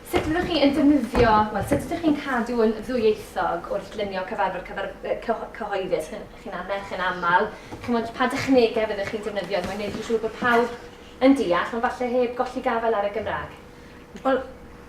Sut fyddwch chi yn defnyddio, wel, sut ydych chi'n cadw yn ddwyieithog wrth lunio cyfarfod cyfar, cyhoeddus? Chi'n chi annerch, chi'n aml. Chi'n pa dechnegau fyddwch chi'n defnyddio mae'n gwneud yn siŵr bod pawb yn deall, ond falle heb golli gafael ar y Gymraeg? Wel,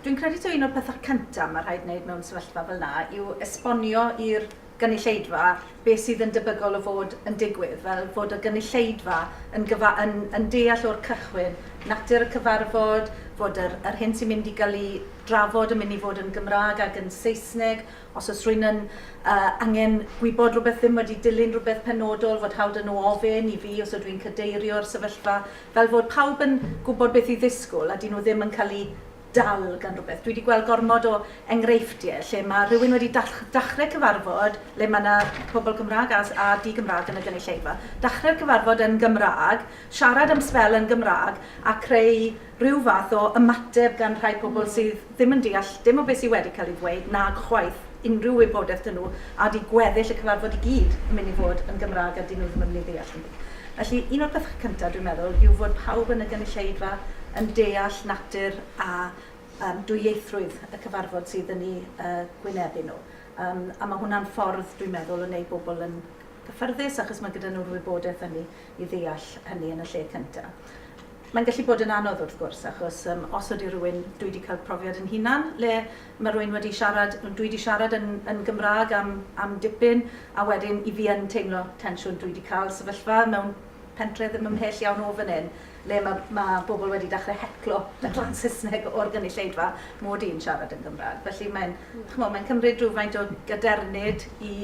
dwi'n credu taw un o'r pethau cyntaf mae rhaid wneud mewn sefyllfa fel yna yw esbonio i'r gynulleidfa, beth sydd yn debygol o fod yn digwydd, fel fod y gynulleidfa yn gyfa- yn yn deall o'r cychwyn natur y cyfarfod, fod yr yr hyn sy'n mynd i gael ei drafod yn mynd i fod yn Gymraeg ac yn Saesneg, os oes rhywun yn yy angen gwybod rhywbeth, ddim wedi dilyn rhywbeth penodol, fod hawl 'da nhw ofyn i fi os ydw i'n cadeirio'r sefyllfa, fel fod pawb yn gwybod beth i ddisgwyl a 'dyn nhw ddim yn cael eu dal gan rywbeth. Dwi 'di gweld gormod o enghreifftie lle ma' rhywun wedi dall- dachre cyfarfod le ma' 'na pobol Cymra'g a s- a di-Gymra'g yn y gynulleidfa, dachre'r cyfarfod yn Gymra'g, siarad am sbel yn Gymra'g a creu rhyw fath o ymateb gan rhai pobol sydd ddim yn deall dim o be sy wedi ca'l ei ddweud, nag chwaith. unrhyw wybodaeth 'da nhw a 'di gweddill y cyfarfod i gyd yn mynd i fod yn Gymraeg a 'dyn nhw ddim yn mynd i ddeall dim byd. Felly, un o'r pethau cynta, dwi'n meddwl, yw fod pawb yn y gynulleidfa yn deall natur a yym dwyieithrwydd y cyfarfod sydd yn eu yy gwynebu nhw. Yym a ma' hwnna'n ffordd, dwi'n meddwl, o wneud bobl yn gyffyrddus achos ma' gyda nhw'r wybodaeth hynny i ddeall hynny yn y lle cynta. Mae'n gallu bod yn anodd wrth gwrs achos yym os ydy rhywun, dwi 'di cael profiad yn hunan le Mae rwy'n wedi siarad, dwi wedi siarad yn yn Gymraeg am am dipyn, a wedyn i fi yn teimlo tensiwn. Dwi wedi cael sefyllfa mewn pentre ddim ymhell iawn o fan hyn, le mae mae bobl wedi dechrau heclo yn Saesneg o'r gynulleidfa mod i'n siarad yn Gymraeg. Felly mae'n, chimod, mae'n cymryd rhywfaint o gadernid i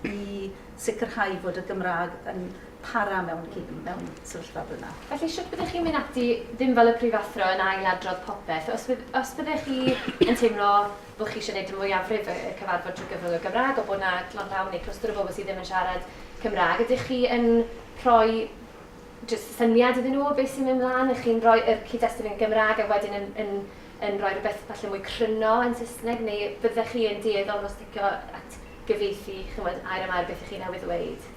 i sicrhau fod y Gymraeg yn para mewn cyn mewn sefyllfa fel yna. Felly, shwt byddech chi'n mynd ati, ddim fel y prifathro yn ail-adrodd popeth, os bydd, os byddech chi yn teimlo bod chi eisiau gwneud y mwyafrif y y cyfarfod trwy gyfrwng y Gymraeg, ond bod 'na gloglawn neu clwstwr o bobl sydd ddim yn siarad Cymraeg, ydych chi yn rhoi jyst syniad iddyn nhw o beth sy'n mynd mlaen, ych chi'n rhoi y cyd-destun yn Gymraeg a wedyn yn yn yn rhoi rhywbeth falle mwy cryno yn Saesneg, neu fyddech chi yn dueddol o sticio at gyfieithu, chimod, air am air beth 'ych chi newydd ddweud?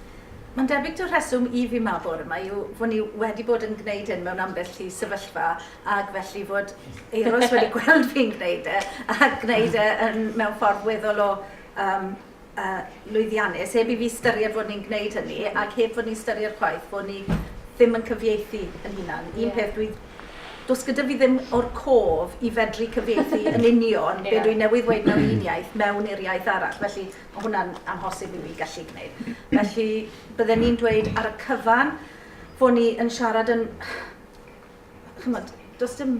Mae'n debyg taw rheswm i fi 'ma bore 'ma yw fod ni wedi bod yn gwneud hyn mewn ambell i sefyllfa ac felly fod Euros wedi gweld fi'n gwneud e a gwneud e yn, mewn ffordd weddol o um, uh, lwyddiannus, heb i fi styried fod ni'n gwneud hynny ac heb fod ni'n styried chwaith bod ni ddim yn cyfieithu yn hunan. Un yeah. peth dwi does gyda fi ddim o'r cof i fedru cyfieithu yn union yeah. be dwi'n newydd ddweud mewn un iaith mewn i'r iaith arall. Felly Mae hwnna'n amhosib i mi gallu gwneud. Felly, bydden ni'n dweud ar y cyfan fod ni yn siarad yn... Chimod, does dim,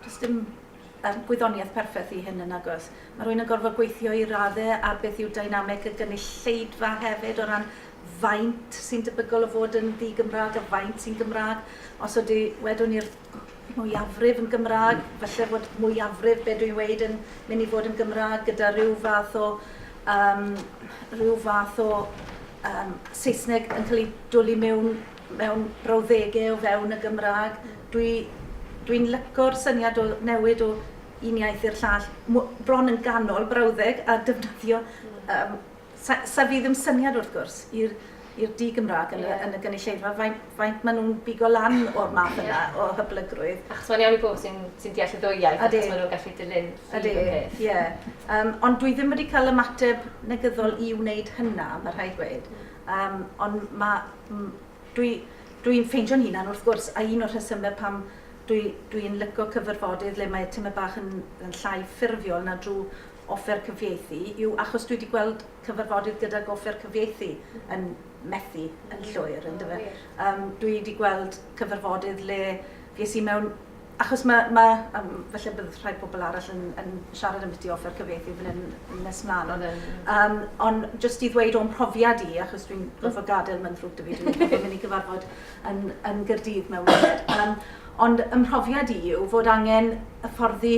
does dim um, gwyddoniaeth perffaith i hyn yn agos. Mae rhywun yn gorfod gweithio i raddau ar beth yw dynamic y gynulleidfa hefyd o ran faint sy'n debygol o fod yn ddi-Gymraeg a faint sy'n Gymraeg. Os ydy, wedwn ni'r mwyafrif yn Gymraeg, falle fod mwyafrif be dwi'n weud yn mynd i fod yn Gymraeg gyda rhyw fath o, um, rhyw fath o um, Saesneg yn cael ei dwlu mewn, mewn brawddegau o fewn y Gymraeg. Dwi, dwi'n lyco'r syniad o newid o un iaith i'r llall, bron yn ganol brawddeg a defnyddio um, Sa, sa fi ddim syniad wrth gwrs i'r i'r di-Gymraeg yn, yeah. yn y gynulleidfa, faint, faint maen nhw'n bigo lan o'r math yna yeah. o hyblygrwydd. Achos mae'n iawn i bobl sy'n sy deall y ddwy iaith, Adi. achos maen nhw'n gallu dilyn ffydd y peth. Yeah. Um, ond dwi ddim wedi cael ymateb negyddol i wneud hynna, mae rhaid gweud. Um, ond mae... Dwi, dwi'n ffeindio'n hunan wrth gwrs, a un o'r rhesymau pam dwi'n dwi, dwi licio cyfarfodydd le mae timau bach yn, yn llai ffurfiol na drwy offer cyfieithu yw achos dwi 'di gweld cyfarfodydd gydag offer cyfieithu yn methu yn llwyr yndyfe? Yym dwi 'di gweld cyfarfodydd le fues i mewn achos mae, mae, um, felly bydd rhai pobl arall yn, yn siarad am beth offer cyfieithu fan hyn nes mlaen, ond, um, ond jyst i ddweud o'n profiad i, achos dwi'n gorfod gadael mae'n ddrwg dy fi, dwi'n mynd i cyfarfod yn, yn Gyrdydd mewn munud. Um, Ond ym mhrofiad i yw fod angen hyfforddi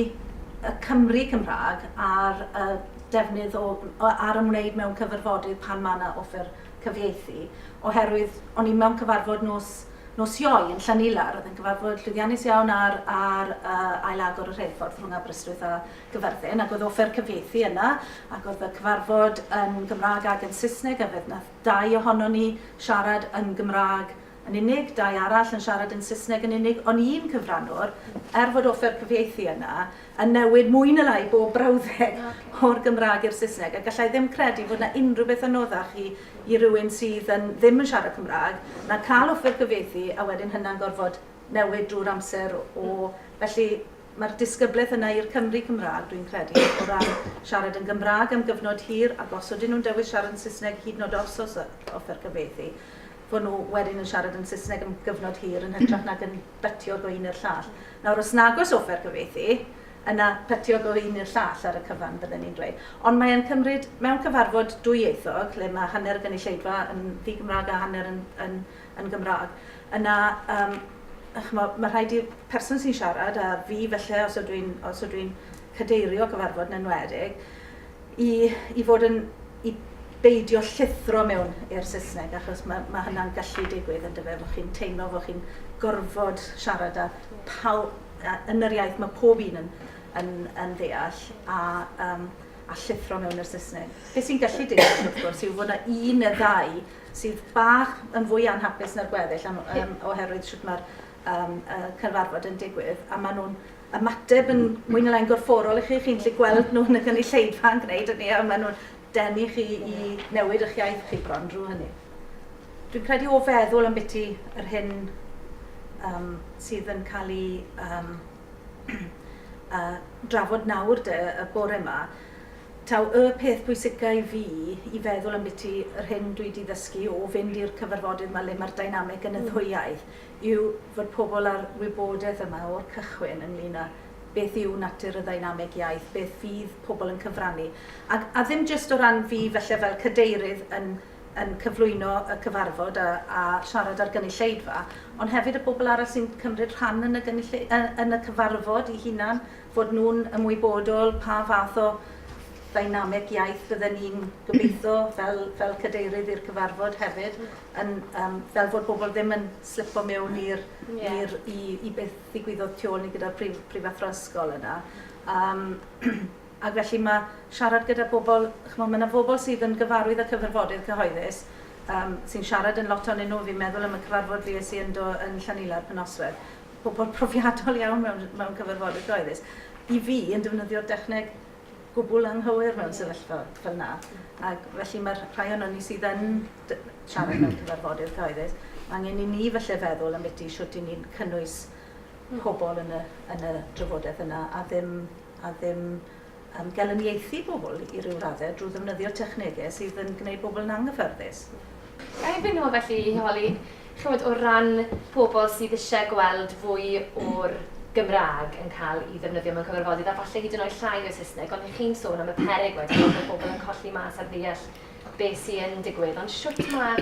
y Cymry Cymraeg ar y defnydd o, ar ymwneud mewn cyfarfodydd pan mae yna offer cyfieithu, oherwydd o'n i mewn cyfarfod nos, nos Ioe yn Llanillar, oedd yn gyfarfod llwyddiannus iawn ar, ar uh, ail-agor y rheilffordd rhwng Aberystwyth a Gyfyrddin, ac oedd offer cyfieithu yna, ac oedd y cyfarfod yn Gymraeg ac yn Saesneg, a fe wnaeth dau ohono ni siarad yn Gymraeg yn unig, dau arall yn siarad yn Saesneg yn unig, ond un cyfrannwr, er fod offer cyfieithu yna, yn newid mwy na lai bob brawddeg o'r Gymraeg i'r Saesneg, a galla i ddim credu fod 'na unrhyw beth anoddach i i rywun sydd yn ddim yn siarad Cymraeg na cael offer cyfieithu a wedyn hynna'n gorfod newid drwy'r amser o felly mae'r disgyblaeth yna i'r Cymry Cymraeg dwi'n credu o ran siarad yn Gymraeg am gyfnod hir ac os ydyn nhw'n dewis siarad yn Saesneg hyd yn oed os oes offer cyfieithu fod nhw wedyn yn siarad yn Saesneg am gyfnod hir yn hytrach nag yn bytio go un i'r llall. Nawr, os nag oes offer cyfieithu, yna bytio go un i'r llall ar y cyfan, bydden ni'n dweud. Ond mae e'n cymryd, mewn cyfarfod dwyieithog, lle mae hanner y gynulleidfa yn ddi-Gymraeg a hanner yn, yn, yn Gymraeg, yna um, chmo, mae rhaid i'r person sy'n siarad, a fi felly, os ydw i'n dwi cadeirio cyfarfod yn enwedig, i i fod yn i beidio llithro mewn i'r Saesneg achos ma' ma' hynna'n gallu digwydd yndyfe bo' chi'n teimlo bo' chi'n gorfod siarad â paw- yy yn yr iaith ma' pob un yn yn yn ddeall a yym a llithro mewn i'r Saesneg. Be' sy'n gallu digwydd wrth gwrs yw fod 'na un neu ddau sydd bach yn fwy anhapus na'r gweddill am yym oherwydd shwt ma'r yym y cyfarfod yn digwydd a ma' nhw'n ymateb yn mwy na lai'n gorfforol i chi, chi'n gallu gweld nhw yn y gynulleidfa yn gwneud hynny a maen nhw'n denu chi i newid eich iaith chi bron drwy hynny. Dwi'n credu o feddwl am biti yr hyn um, sydd yn cael ei um, uh, drafod nawr de, y bore yma, taw y peth pwysica i fi i feddwl am biti yr hyn dwi wedi ddysgu o fynd i'r cyfarfodydd mae le mae'r dynamic yn y ddwy iaith yw fod pobl â'r wybodaeth yma o'r cychwyn ynglŷn â beth yw natur y ddeinameg iaith, beth fydd pobl yn cyfrannu, a a ddim jyst o ran fi falle fel cadeirydd yn yn cyflwyno y cyfarfod a a siarad â'r gynulleidfa, ond hefyd y bobl arall sy'n cymryd rhan yn y gynulli- yy yn y cyfarfod 'u hunan, fod nhw'n ymwybodol pa fath o ddeinameg iaith fydden i'n gobeitho fel fel cadeirydd i'r cyfarfod hefyd. yn yym fel fod bobol ddim yn slipo miwn i'r Ie. i'r i i beth ddigwyddodd tu ôl ni gyda'r prif prifathro ysgol yna. Yym ac felly ma' siarad gyda bobol ch'mo' ma' 'na bobol sydd yn gyfarwydd â cyfarfodydd cyhoeddus yym sy'n siarad yn lot onyn nhw fi'n meddwl am y cyfarfod fues i yndo yn Llanilad Pennoswedd. Pobol profiadol iawn mewn mewn cyfarfodydd cyhoeddus. I fi yn defnyddio'r dechneg gwbwl anghywir mewn sefyllfa fel 'na. Ag felly ma'r rhai onon ni sydd yn siarad mewn cyfarfodydd cyhoeddus, mae angen i ni falle feddwl am biti shwt i ni'n cynnwys pobl yn y, yn y drafodaeth yna a ddim, a ddim um, gelyniaethu pobl i ryw raddau drwy ddefnyddio technegau sydd yn gwneud pobl yn anghyffyrddus. A erbyn nhw felly i holi, chymod, o ran pobl sydd eisiau gweld fwy o'r Gymraeg yn cael ei ddefnyddio mewn cyfarfodydd a falle hyd yn oed llai o Saesneg, ond chi'n sôn am y peryg wedyn bod pobl yn colli mas ar ddeall be sy yn digwydd, ond shwt ma,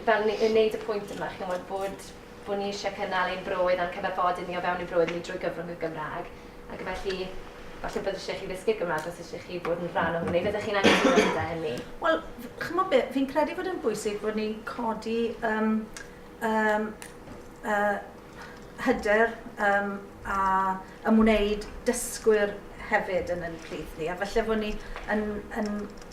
fel ni, yn neud y pwynt yma, chi'n gwybod, bod, bod ni eisiau cynnal ein broedd a'n cyfarfodydd ni o fewn ein broedd ni drwy gyfrwng y Gymraeg, ac felly, falle bod eisiau chi ddysgu Gymraeg os eisiau chi bod yn rhan o hynny, fyddech chi'n anghytuno gyda hynny? Wel, chymod be, fi'n credu bod yn bwysig bod ni'n codi um, um, uh, hyder um, a ymwneud dysgwyr hefyd yn ein plith ni, a felly bod ni yn, yn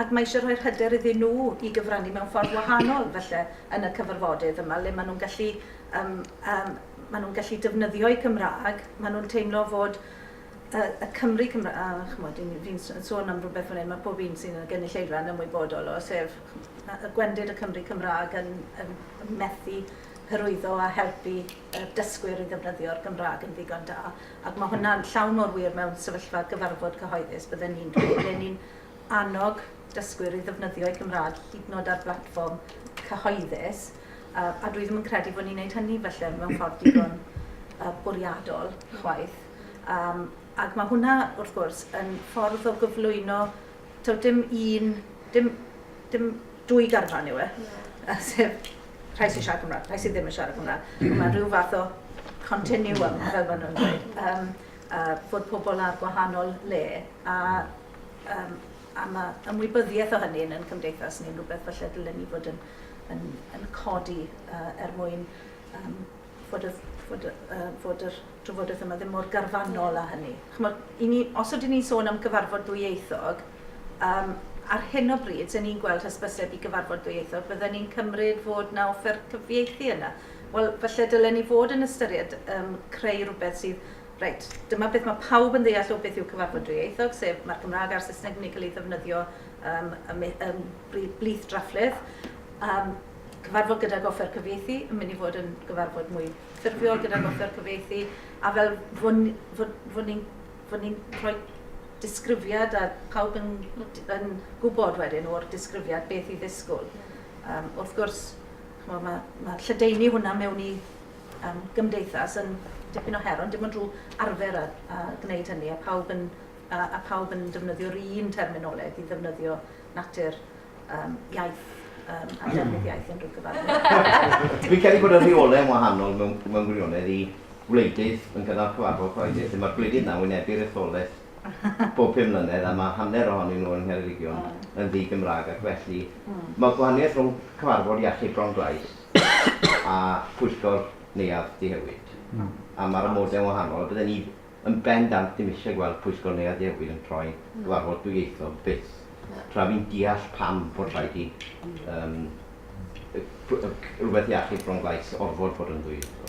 Ac mae eisiau rhoi'r hyder iddyn nhw i gyfrannu mewn ffordd wahanol, falle, yn y cyfarfodydd yma, le maen nhw'n gallu, yym, yym, maen nhw'n gallu defnyddio'u Cymraeg, maen nhw'n teimlo fod y, y Cymry Cymra-, a, chimod, fi'n, fi'n s- sôn am rywbeth fan hyn, mae pob un sydd yn y gynulleidfa yn ymwybodol o, sef, chimod, y gwendid y Cymry Cymraeg yn, yn, yn methu hyrwyddo a helpu y dysgwyr i ddefnyddio'r Gymraeg yn ddigon da. Ac mae hwnna'n llawn mor wir mewn sefyllfa gyfarfod cyhoeddus, bydden i'n dweud, ble ni'n annog dysgwyr i ddefnyddio'u Cymraeg hyd yn oed ar blatfform cyhoeddus, yy a dwi ddim yn credu bod ni'n neud hynny falle mewn ffordd digon yy bwriadol chwaith. Yym ac ma' hwnna wrth gwrs yn ffordd o gyflwyno taw dim un dim dim dwy garfan yw e yy sef rhai sy'n siarad Cymraeg, rhai sydd ddim yn siarad Cymraeg. Mm. Mae rhyw fath o continuum fel maen nhw'n dweud. Yym yy bod pobl ar gwahanol le a Yym a ma' ymwybyddiaeth o hynny yn ein cymdeithas ni'n rhywbeth falle dylen ni fod yn yn yn codi yy er mwyn yym fod y fod y yy fod yr drafodaeth yma ddim mor garfanol â hynny. Ch'mod, 'yn ni os ydyn ni'n sôn am gyfarfod ddwyieithog, yym ar hyn o bryd 'sen ni'n gweld hysbyseb i gyfarfod ddwyieithog, fydden ni'n cymryd fod 'na offer cyfieithu yna. Wel, falle dylen ni fod yn ystyried yym creu rhywbeth sydd Reit, dyma beth mae pawb yn ddeall o beth yw cyfarfod dwyieithog, sef mae'r Gymraeg a'r Saesneg yn mynd i cael eu ddefnyddio ym ym blith drafftlydd. Yym cyfarfod gydag offer cyfieithu yn mynd i fod yn gyfarfod mwy ffurfiol gydag offer cyfieithu, a fel fod ni fod fod ni'n fod ni'n rhoi disgrifiad a pawb yn yn gwybod wedyn o'r disgrifiad beth i ddisgwyl. Yym wrth gwrs ch'mod ma' ma' lledaenu hwnna mewn i um, gymdeithas yn dipyn o her, ond dim ond rhyw arfer a, a gwneud hynny, a pawb yn, a, a pawb yn defnyddio'r un terminoleg i ddefnyddio natur um, iaith um, a defnydd iaith unrhyw cyfarfod. Fi'n credu bod y rheolau yn wahanol mewn, mewn gwirionedd i wleidydd yn gynnal cyfarfod chwaith. Lle mae'r gwleidydd na'n wynebu'r etholaeth bob pum mlynedd a mae hanner ohonyn nhw yn Ngheredigion yn ddi Gymraeg ac felly hmm. mae gwahaniaeth rhwng cyfarfod iechyd Bron Glais a phwyllgor neuadd ddihewi'd. A ma'r amode'n wahanol, a bydden i yn bendant ddim isie gweld pwyllgor neuadd ddihewi'd yn troi cyfarfod dwyieithog byth, tra fi'n deall pam fod rhaid i yym rwbeth iachyd Fron Glais orfod bod yn ddwyieithog.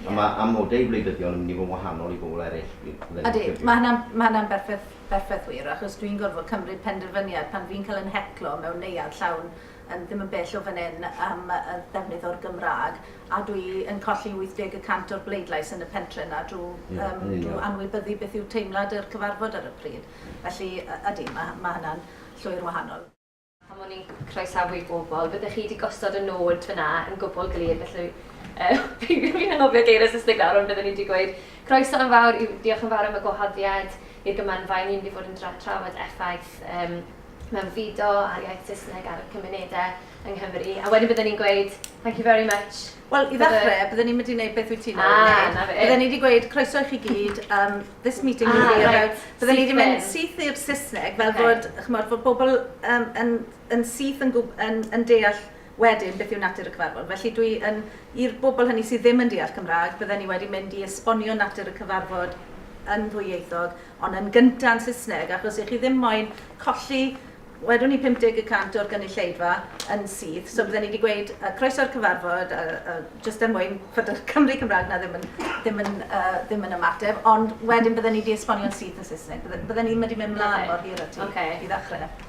A ma' amode i wleidyddion yn mynd i fod yn wahanol i bobl eryll, fi'n credu. Ydi, ma' hynna'n, ma' hynna'n berffeth, berffeth wir, achos dwi'n gorfod cymryd penderfyniad pan fi'n cael 'yn heclo mewn neuadd llawn, Yym, ddim yn bell o fan hyn, am y ddefnydd o'r Gymraeg, a dwi yn colli 80 y cant o'r bleidlais yn y pentre 'na drw yym drw anwybyddu beth yw teimlad yr cyfarfod ar y pryd. Felly, y- ydi, ma' ma' hynna'n llwyr wahanol. Pan o'n i'n croesawu pobl, byddech chi 'di gosod y nod fan'na yn gwbwl glir, felly yy peidiwch, fi'n anghofio geiriau Saesneg nawr, ond byddwn i 'di gweud croeso yn fawr, yw diolch yn fawr am y gwahoddiad i'r Gymanfa, 'yn ni'n mynd i fod yn dra- trafod effaith yym mewn fido a'r iaith Saesneg ar y cymunedau yng Nghymru, a wedyn bydden ni'n gweud thank you very much Wel, i ddechrau, bydden ni'm wedi gwneud beth wyt ti'n ei wneud. Bydden ni wedi gweud, croeso i chi gyd, this meeting will be about... Bydden ni wedi mynd syth i'r Saesneg fel bod, chimod, bod pobl yn syth yn deall Wedyn, beth yw natur y cyfarfod? Felly, dwi yn, i'r bobl hynny sydd ddim yn deall Cymraeg, bydden i wedi mynd i esbonio natur y cyfarfod yn ddwyieithog, ond yn gynta' yn Saesneg, achos i chi ddim moyn colli, wedwn ni 50 y cant o'r gynulleidfa yn syth, so bydden i 'di gweud yy croeso i'r cyfarfod, a a jyst er mwyn fod y Cymry Cymraeg 'na ddim yn ddim yn yy ddim yn ymateb, ond wedyn bydden i 'di esbonio'n syth yn Saesneg, bydde- bydden i ddim wedi mynd mlan mor hir â ti i ddechre.